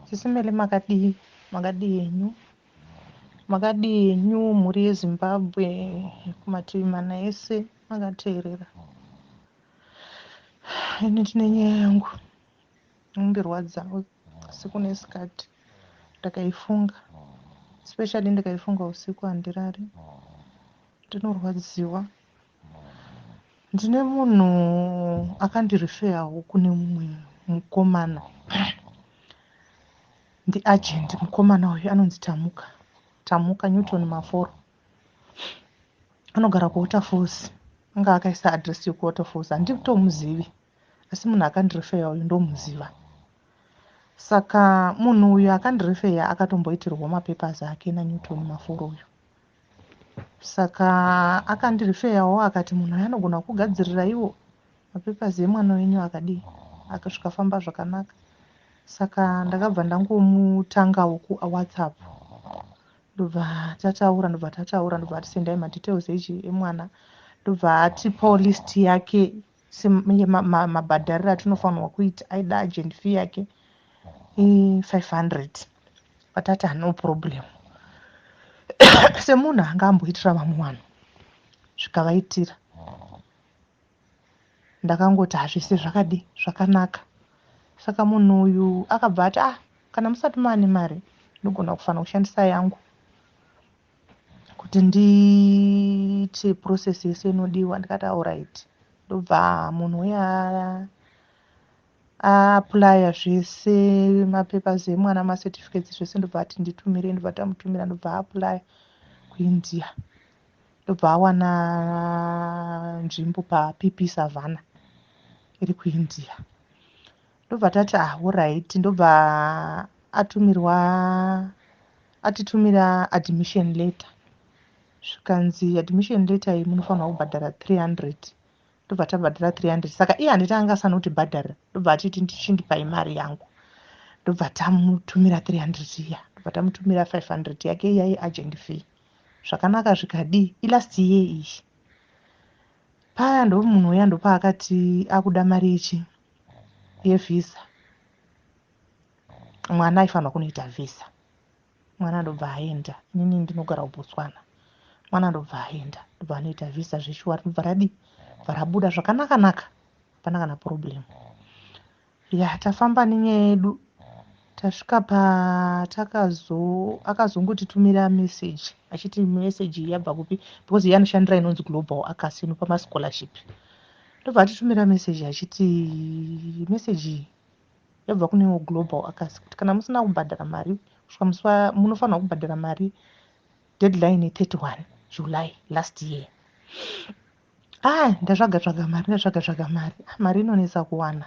Sisi Mele makadii? Makadii henyu? Makadii henyu mhuri yeZimbabwe kumativi mana ese makateerera? Ini tine nyaya yangu inondirwadzawo asi kune sikati ndakaifunga especially ndikaifunga usiku handirari ndinorwadziwa ndine munhu akandirifeyawo kune mumwe mukomana ndiagent mukomana uyu anonzi tamuka tamuka newton maforo anogara kuwaterfalls anga akaisa adress yekuwaterfalls handitomuzivi asi munhu akandirefeya uyu ndomuziva saka munhu uyu akandirefeya akatomboitirwa mapapers ake nanewton maforo uyu saka akandirifeyawo akati munhu aya anogona kugadzirira iwo mapapers emwana wenyu akadii akazvikafamba zvakanaka saka ndakabva ndangomutangawo kuwhatsapp ndobva tataura ndobva tataura ndobva ati sendai madetails echi emwana ndobva atipawo list yake semabhadhariro atinofanirwa kuita aida agent fee yake i500 but ati hano problem semunhu anga amboitira vamwe vanhu zvikavaitira ndakangoti hazvese zvakadi zvakanaka saka munhu uyu akabva ati ah kana musati maane mari ndogona kufanira kushandisa yangu kuti ndiite process yese inodiwa ndikati auright ndobva munhu uya aaplya zvese mapapers emwana macertificates zvese ndobva ati nditumire ndobva tamutumira ndobva aaplya kuindia ndobva awana nzvimbo papp savana iri kuindia ndobva tati ah horaiti ndobva atumirwa atitumira admission letter zvikanzi admission letter iyi munofanirwa kubhadhara 300 ndobva tabhadhara 300 saka iye handiti anga asanotibhadharira ndobva atiti ndichindipai mari yangu ndobva tamutumira 300 iya ndobva tamutumira 500 yake iya yeagent fee zvakanaka zvikadii ilast year iyi paya ndomunhu uya ndopaakati akuda mari yechi yevhisa mwana aifanirwa kunoita vhisa mwana ndobva aenda inini ndinogara kubotswana mwana ndobva aenda ndobva anoita vhisa zveshuwa rinobva radii bva rabuda zvakanaka naka hapana kana problem ya tafamba nenyaya yedu Tasvika pa takazo akazongotitumira message achiti message iyi yabva kupi because iye anoshandira inonzi global acas inopa mascholarship ndobva atitumira message achiti message iyi yabva kunewo global acas kuti kana musina kubhadhara mari kusvika musi munofanirwa kubhadhara mari deadline 31 july last year ah ndatsvaga tsvaga mari ndatsvaga tsvaga mari ah, mari inonetsa kuwana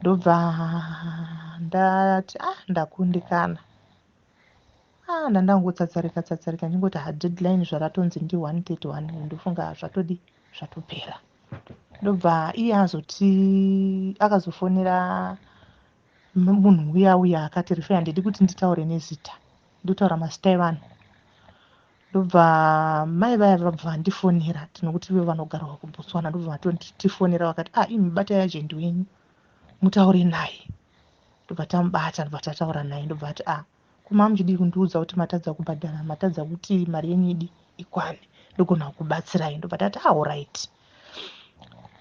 ndobva ndati ah ndakundikana ah ndandangotsatsarika tsatsarika ndingoti ha deadline zvaratonzi ndi 131 ndofunga zvatodi zvatopera ndobva iye azoti akazofonera munhu uya uya akati rifeya ndidi kuti nditaure nezita ndotaura mazita evanhu ndobva mai vaya vabva vandifonera tinokuti ivo vanogarwa kubotswana ndobva vatotifonera vakati ah imi batai ajendi wenyu mutaure naye ndobva tamubata ndobva tataura naye ndobva ati ah kuma muchidii kundiudza kuti matadza kubhadhara matadza kuti mari yenyu idi ikwane ndogona kubatsirai ndobva tati ah orit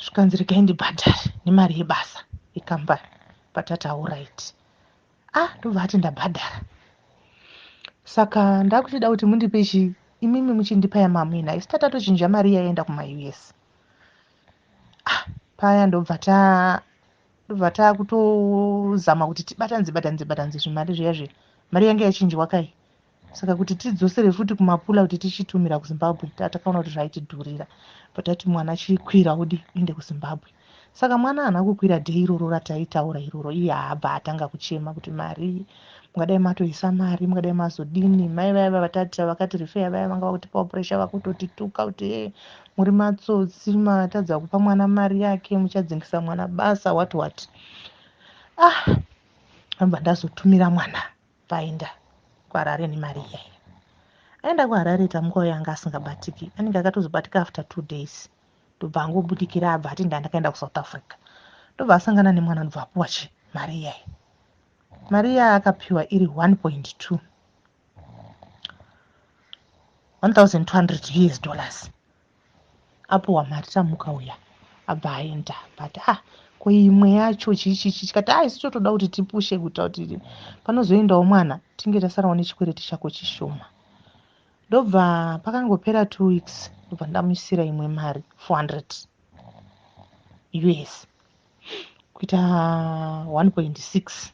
zvikanzi regai ndibhadhare nemari yebasa yekambani patati ah orit ah ndobva ati ndabhadhara saka ndakuchida kuti mundipe chi imimi muchindipa yamamwina isi tatatochinja mari yaenda kumaus ah paya ndobva ta ndobva takutozama kuti tibatanze batanze batanze zvimari zviya zviya mari yange yachinjwa kai saka kuti tidzosere futi kumapula kuti tichitumira kuzimbabwe tatakaona kuti zvaitidhurira but ati mwana chikwira udi uende kuzimbabwe saka mwana haana kukwira dei iroro rataitaura iroro iye haabva atanga kuchema kuti mari mungadai matoisa mari mungadai mazodini mai vaya vavatati vakati rifeya vaya vanga vakutipawo puresha vakutotituka kuti e muri matsotsi matadza kupa mwana mari yake muchadzingisa mwana basa what what ah ambva ndazotumira mwana Paenda kuHarare nemari iya iya. Aenda kuHarare Tamukwa uya anga asingabatiki. Anenge akatozobatika after two days. Ndobva angobudikira abva ati ndandakaenda kuSouth Africa. Ndobva asangana nemwana ndobva apuwa chi mari iya iya. Mari iya akapiwa iri 1.2. 1200 US dollars. apo wamari tamuka uya abva aenda but ah ko imwe yacho chichichi chikati ah isu totoda kuti tipushe kuita kuti panozoendawo mwana tinge tasarawo nechikwereti chako chishoma ndobva pakangopera two weeks ndobva ndamuisira imwe mari four hundred us kuita one point six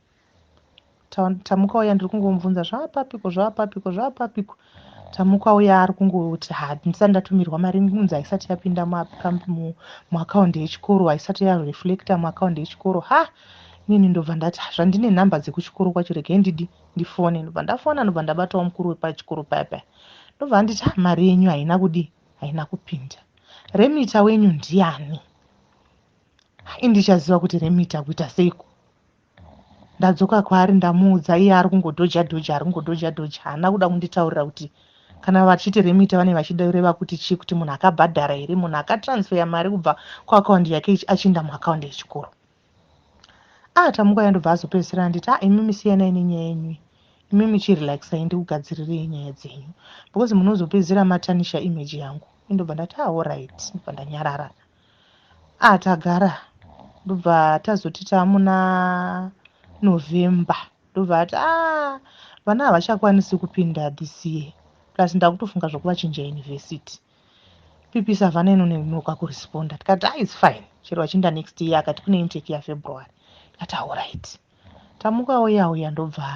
tamuka uya ndiri kungomubvunza zvaapapiko zvaapapiko zvaapapiko tamuka uya ari kungoti handisati ndatumirwa mari kunzi haisati yapinda muakaundi yechikoro haisati yareflecta muakaundi yechikoro ha inini ndobva ndati zvandine nhamba dzekuchikoro kwacho regai ndidi ndifone ndobva ndafona ndobva ndabatawo mukuru wepachikoro paya paya ndobva anditi ah, mari yenyu haina kudii haina kupinda remita wenyu ndiani indichaziva kuti remita kuita seiko ndadzoka kwaari ndamuudza iye ari kungodhoja dhoja ari kungodhoja dhoja haana kuda kunditaurira kuti kana vachiti remita vane vachida kureva kuti chii kuti munhu akabhadhara here munhu akatransfeya mari kubva kuakaundi yake achiinda muakaundi yechikoro ah tamuka yandobva azopedzisira anditi ah imimi siyanai nenyaya yenyuyi imimi chirelaxai ndikugadzirirei nyaya dzenyu because munozopedzisira matanisha image yangu indobva ndati ah orit ndobva ndanyarara ah tagara ndobva tazoti tamuna november ndobva ati ah vana havachakwanisi kupinda this year plus ndakutofunga zvokuvachinja university pipisa vana ino nenoka kuresponda tikati ah its fine chero vachinda next year akati kune intake yafebruary tikati auright ah, tamuka oya oya ndobva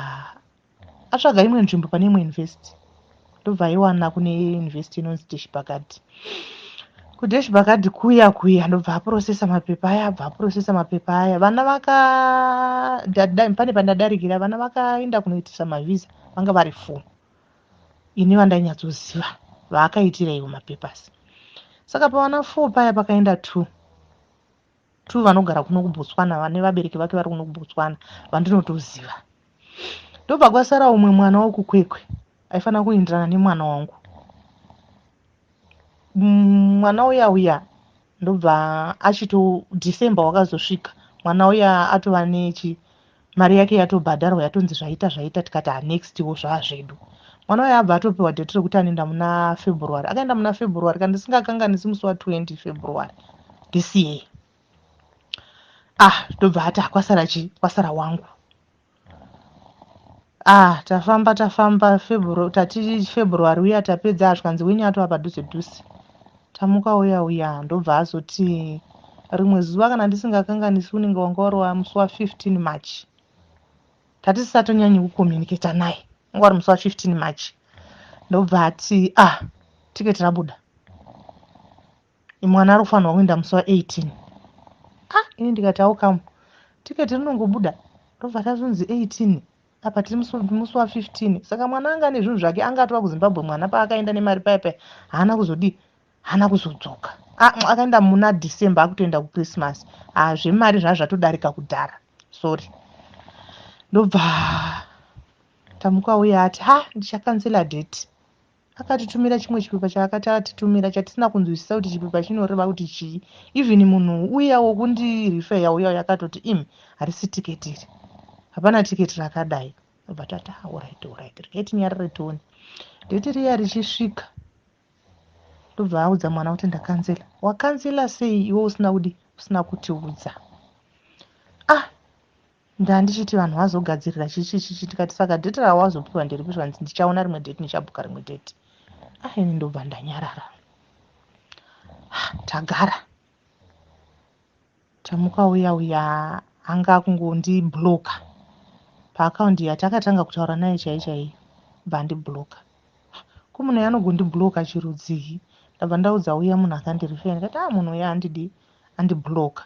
atsvaga imwe nzvimbo pane imwe university ndobva aiwana kune university inonzi deshbakadi kudeshbakadi kuya kuya ndobva aprosesa mapepa aya abva aprosesa mapepa aya vana vaka pane pandadarikira vana vakaenda kunoitisa mavhiza vanga vari four ini vandainyatsoziva vaakaitira ivo mapepers saka pavana four paya pakaenda two true vanogara kuno kubotswana vane vabereki vake vari kuno kubotswana vandinotoziva ndobva kwasara umwe mwana wekukwekwe aifanira kuenderana nemwana wangu mm, mwana uya uya ndobva achito december wakazosvika mwana uya atova nechi mari yake yatobhadharwa yatonzi zvaita zvaita tikati hanextiwo zvaazvedu mwana waye abva atopiwa date rekuti anoenda muna february akaenda muna february kana ndisingakanganisi musi wa 20 february this year ah ndobva ati hakwasara chi kwasara wangu ah tafamba tafamba february tati february uya tapedza hazvikanzi wini atova padhuze dhuze Tamuka uya uya ndobva azoti rimwe zuva kana ndisingakanganisi unenge wanga wari wamusi wa 15 march tatisisatonyanye kucommunicata naye anga wari musi wa 15 march ndobva ati ah tiketi rabuda mwana ari kufanirwa kuenda musi wa 18 ah ini ndikati aukamu tiketi rinongobuda ndobva tazonzi 18 apa tiri musi wa 15 saka mwana anga ane zvinhu zvake anga atova kuzimbabwe mwana paakaenda nemari paya paya haana kuzodii haana kuzodzoka akaenda muna december akutoenda kuchristmas haa ah, zvemari zvaa zvatodarika kudhara sorry ndobva tamuka uya ati ha ndichakansela date Akatitumira chimwe chipepa chaakati atitumira chatisina kunzwisisa kuti chipepa chinoreva kuti chii. Even munhu uya wokundirifeya uya uya akatoti im harisi tiketi iri. Hapana tiketi rakadai. Ndobva tati ah alright alright regai tinyarare tione. Date riya richisvika ndobva audza mwana kuti ndakanzela. Wakanzela sei iwe usina kudi usina kutiudza. Ah Ndandichiti vanhu vazogadzirira chichichichi tikati saka date rawazopiwa nderipi zvikanzi ndichaona rimwe date ndichabhuka rimwe date ah ini ndobva ndanyarara ah, tagara tamuka uya uya anga akungondibloka paakaundi yatakatanga kutaura naye chai chai bva ndibloka ah, ko munhu yanogondibloka chirudzii ndabva ndaudza uya munhu akandirifea ndikati a ah, munhu uya andidi andibloka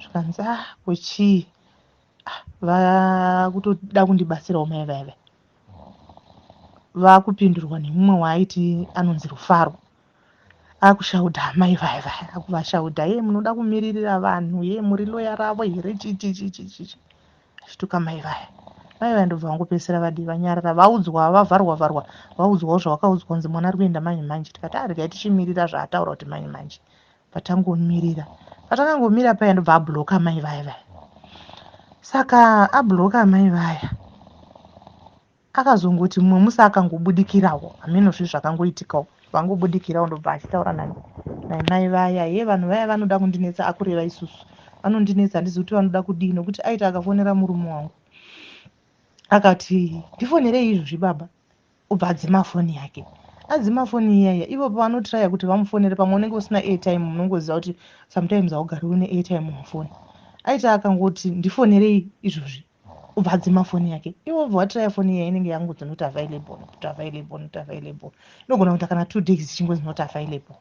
zvikanzi ah ko chii ah, vakutoda kundibatsirawo mai vaive vakupindurwa nemumwe waaiti anonzi rufaro akushaudha amai vaya vaya akuvashaudha ye munoda kumiririra vanhu ye muri loya ravo here chichichichichichi achituka mai vaya mai vaya ndobva vangopedzisira vadii vanyarara vaudzwa vavharwa vharwa vaudzwawo zvavakaudzwa kunzi mwana ari kuenda manje manje tikati arega ah, tichimirira zvaataura kuti manje manje patangomirira patakangomira paya ndobva abloka mai vaya vaya saka abloka amai vaya akazongoti mumwe musi akangobudikirawo hameno zvi zvakangoitikawo vangobudikirawo ndobva achitaura nani naimai vaya ye vanhu vaya vanoda kundinetsa akureva isusu vanondinetsa handizi kuti vanoda kudii nokuti aita akafonera murume wangu akati ndifonerei izvozvi baba obva adzima foni yake adzima foni iyaya ivo pavanotraya kuti vamufonere pamwe unenge usina airtime munongoziva kuti sometimes haugari une airtime mufoni aita akangoti ndifonerei izvozvi obva adzima foni yake ivo obva watraya foni iyaya inenge yangozi not available not available not available inogona kuita kana two days ichingozi not available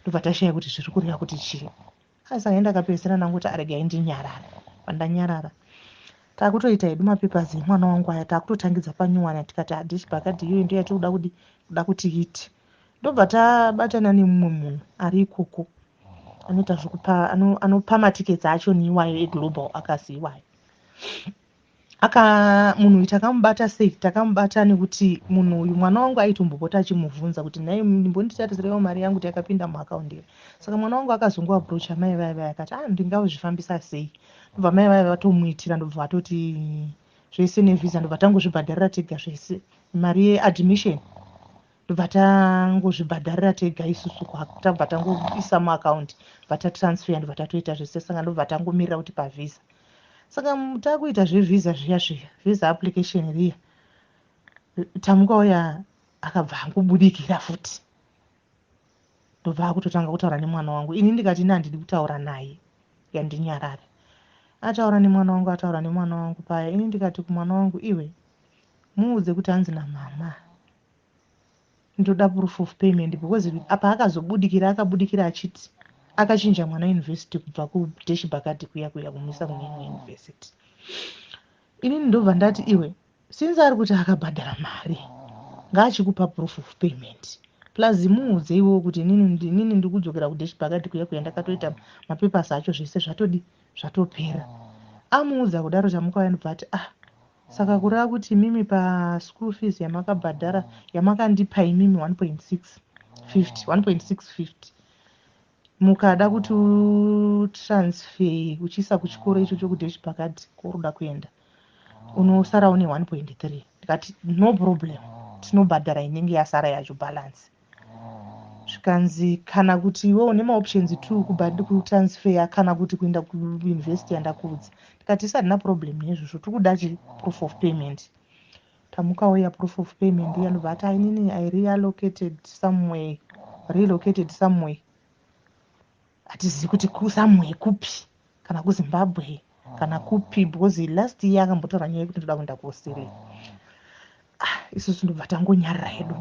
ndobva tashaya kuti zviri kureva kuti chii Asi aenda akapedzisira ndangoti aregai ndinyarare. Pandanyarara takutoita hedu mapapers emwana wangu aya takutotangidza panyuwana tikati hadish bakadi iyoyi ndiyo yatikuda kudi kuda kuti iti ndobva tabatana nemumwe munhu ari ikoko anoita zvekupa anopa matickets acho neiwayo eglobal akasi iwayo aka munhu uyu takamubata safe takamubata nekuti munhu uyu mwana wangu aitombopota achimubvunza kuti nhai ndimbonditarizirewo mari yangu kuti yakapinda muakaundi here saka mwana wangu akazongoaprocha mai vaya vaya akati a ah, ndingazvifambisa sei ndobva mai vaya vatomuitira ndobva vatoti zvese nevhiza ndobva tangozvibhadharira tega zvese mari yeadmission tobva tangozvibhadharira tega isusu tabva tangoisa muakaundi bva tatransfer ndobva tatoita zvese saka ndobva tangomirira kuti pavhiza saka takuita zvevhiza zviya zviya vhiza application riya tamuka uya akabva angobudikira futi ndobva akutotanga kutaura nemwana wangu ini ndikati ine handidi kutaura naye yandinyarare ataura nemwana wangu ataura nemwana wangu paya ini ndikati kumwana wangu iwe muudze kuti hanzi namama Ndoda proof of payment because apa akazobudikira akabudikira achiti akachinja mwana university kubva kudeshi bakati kuya kuya kumuisa kune imwe university. Inini ndobva ndati iwe since ari kuti akabhadhara mari ngaachikupa proof of payment plus muudze iwewo kuti inini ndiri kudzokera kudeshi bakati kuya kuya ndakatoita mapepers acho zvese zvatodi zvatopera. Amuudza kudaro Chamukauya ndobva ati ah Saka kureva kuti imimi pa school fees yamakabhadhara yamakandipa imimi 1.650 1.650 mukada kuti utransfer uchiisa kuchikoro ichocho kudeshi pakati kworuda kuenda unosara une 1.3 ndikati no problem tinobhadhara inenge yasara yacho balance zvikanzi kana kuti iwe une maoptions two kutransfeya kana kuti kuenda kuuniversity yandakuudza ndikati isadina problem nezvozvo tiri kuda chi proof of payment tamukawo ya proof of payment yanobva ati ainini i relocated someway relocated someway hatizivi kuti kusamwe kupi kana kuzimbabwe kana kupi because last year akambotaura nyaya yekuti ndoda kuenda kuaustralia ah, isusu ndobva tangonyarira hedu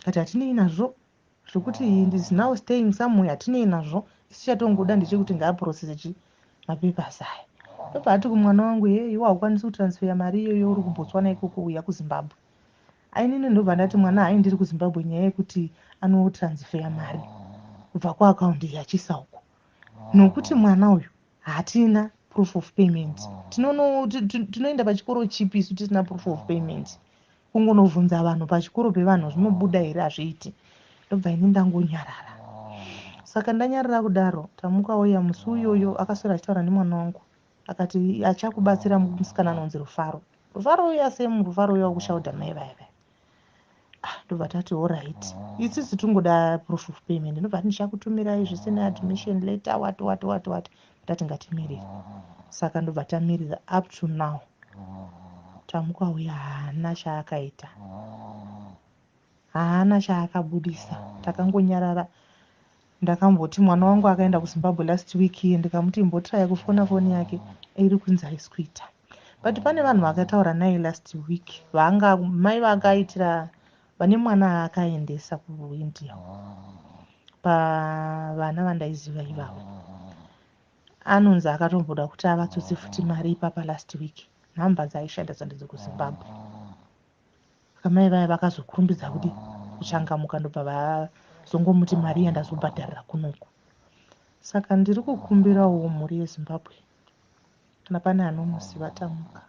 kati hatinei nazvo zvekuti ndis now staying somewhere hatinei nazvo isu chatongoda ndechekuti ngaaprocese chi mapepers aya ndobva ati kumwana wangu heyeiwa haukwanisi kutransfeya mari iyoyo uri kubotswana ikoko uya kuzimbabwe Ainini ndobva ndati mwana hayi ndiri kuzimbabwe nyaya yekuti anotransfeya mari kubva kuakaundi yachisa uko nokuti mwana uyu hatina proof of payment tinoenda pachikoro chipi isu tisina proof of payment kungonobvunza vanhu pachikoro pevanhu zvinobuda here hazviiti ndobva ini ndangonyarara saka ndanyarara kudaro tamuka oya musi uyoyo akaswera achitaura nemwana wangu akati achakubatsira musikana anonzi rufaro rufaro uya same rufaro uya wakushauda mai vaya vaya ah, ndobva tati orit isisi tingoda proof of payment ndobva ti ndichakutumirai zvese neadmission letter wat wat wat wat tati ngatimirire saka ndobva tamirira up to now tamukauya haana chaakaita Haana chaakabudisa takangonyarara ndakamboti mwana wangu akaenda kuzimbabwe last week iye ndikamuti imbotraya kufona foni yake iri kunzi haisi kuita but pane vanhu vakataura naye last week vanga mai vakaitira vane mwana aakaendesa kuindia pavana vandaiziva ivavo anonzi akatomboda kuti avatsotse futi mari ipapa last week nhamba dzaishanda dzandidzi kuzimbabwe saka mai vaya vakazokurumbidza kuti kuchangamuka ndobva vazongomuti mari yandazobhadharira kunoku saka ndiri kukumbirawo mhuri yezimbabwe kana pane anomuziva tamuka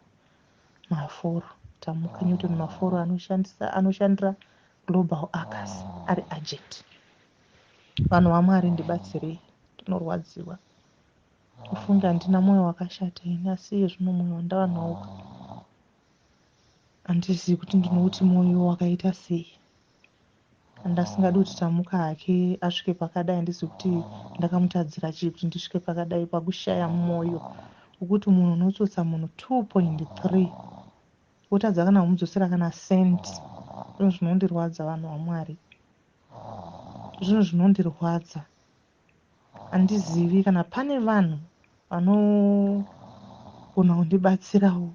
maforo tamuka newton maforo anoshandisa anoshandira global acas ari agent vanhu vamwari ndibatsirei ndinorwadziwa kufunga handina mwoyo wakashata ini asi iye zvino mwoyo wandava nawo Handizivi kuti ndinouti mwoyo wakaita sei. Handasingadi kuti Tamuka hake asvike pakadai handizivi kuti ndakamutadzira chii kuti ndisvike pakadai pakushaya mwoyo wekuti munhu unotsotsa munhu 2.3 wotadza kana kumudzosera kana cent. Zvinhu zvinondirwadza vanhu vaMwari. Zvinhu zvinondirwadza. Handizivi kana pane vanhu vanogona kundibatsirawo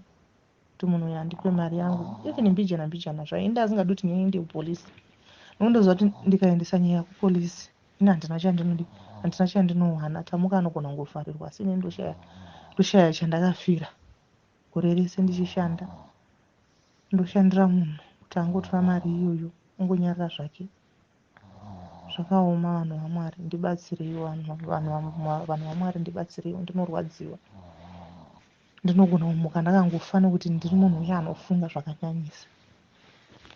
kuti munhu uyu andipe mari yangu even mbijana mbijana zvayo ende asingadi kuti ndiende kupolisi nokuti ndoziva kuti ndikaendesa nyaya kupolisi ini handina chandinodi handina chandinowana tamuka anogona kungovharirwa asi ini ndoshaya ndoshaya chandakafira gore rese ndichishanda ndoshandira munhu kuti angotora mari iyoyo ongonyarara zvake Zvakaoma vanhu vaMwari ndibatsireiwo vanhu vanhu vanhu vaMwari ndibatsireiwo ndinorwadziwa. Ndinogona kumuka ndakangofa nekuti ndiri munhu uye anofunga zvakanyanyisa.